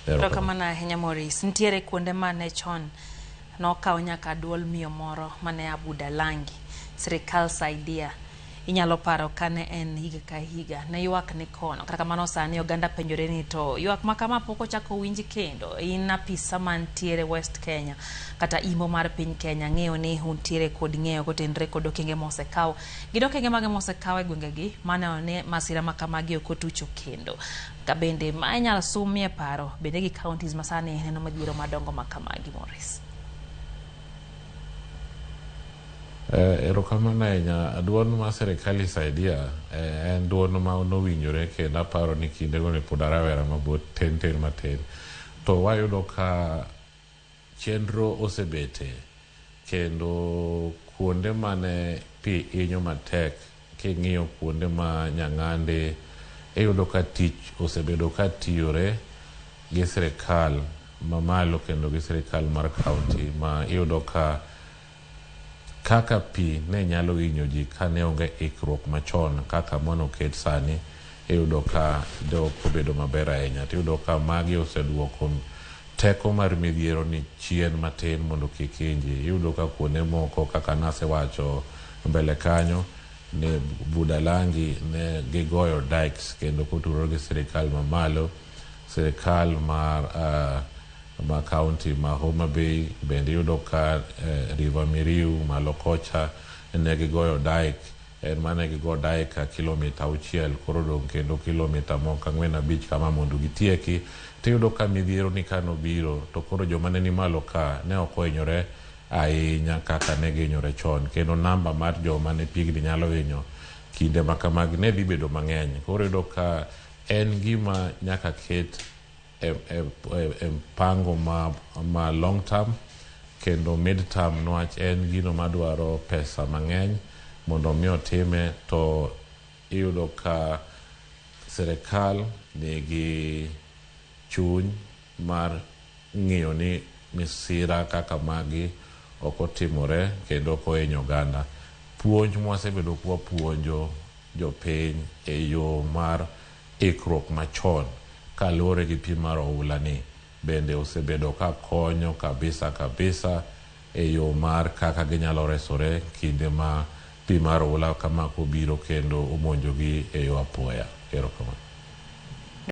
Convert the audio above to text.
Erokamano ahinya Maurice. Nitiere kuonde mane chon nokawo nyaka duol miyo moro mane abuda langi sirikal saidia inyalo paro kane en higa ka higa ne ywak ni kono kata kamano sani oganda penjore ni to ywak ma kama pok ochako winj kendo in apisa mantiere west kenya kata imbo mar piny kenya ng'eyo ni untiere kod ng'eyo kotenre kod okenge mosekaw gin okenge mage mosekaw e gwengegi mane one masira ma kamagi ok otucho kendo Ka bende ma inyal sumie paro bende gi counties masani neno madhiero madongo ma kamagi Morris. Eh, erokamano ahinya duond ma serikali saidia eh, en duond ma nowinjore kendo aparo ni kindego ne pod arawera mabot ten ten matin to wayudo ka Chenro osebete kendo kuonde mane pi inyo matek king'iyo kuonde ma nyang'ande iyudo ka tich osebedo ka tiyore gi sirikal mamalo kendo gi sirikal mar kaunti ma iyudo ka Kaka pi ne nyalo hinyo ji ka ne onge ikruok machon kaka mone oket sani, iyudo ka de ok obedo maber ahinya. To iyudo ka magi oseduoko teko mar midhiero ni chien matin mondo kik hiny ji. Iyudo ka kuonde moko kaka nasewacho mbele kanyo ni Budalangi ne gigoyo dikes kendo kotudore gi sirikal mamalo, sirikal mar ma county ma Homa Bay bende iyudo ka river Miriu malo kocha negigoyo dyke en ma ne gigo dyke ka kilometre auchiel koro odong' kendo kilometre moko ang'wen abich kama mondo gitieki tiyudo ka midhiero ni ka nobiro to koro joma ne ni malo ka ne ok ohinyore ahinya kaka ne gihinyore chon kendo number mar joma ne pigni nyalo hinyo kinde ma kamagi ne dhi bedo mang'eny koro iyudo ka en gima nyaka ket e mpango ma long term kendo mid term nwach en gino madwaro pesa mang'eny mondo mi otime to iyudo ka sirikal nigi chuny mar ng'iyo ni misira kaka magi ok otimore kendo ok ohinyo oganda. Puonj mwasebedo kwapuonjo jopiny e yo mar Ikruok machon kaluore gi pim mar oula ni bende osebedo ka konyo kabisa kabisa e yo mar kaka ginyalo resore kinde ma pim mar oula kama kobiro kendo omonjogi e yo apoya. Erokamano.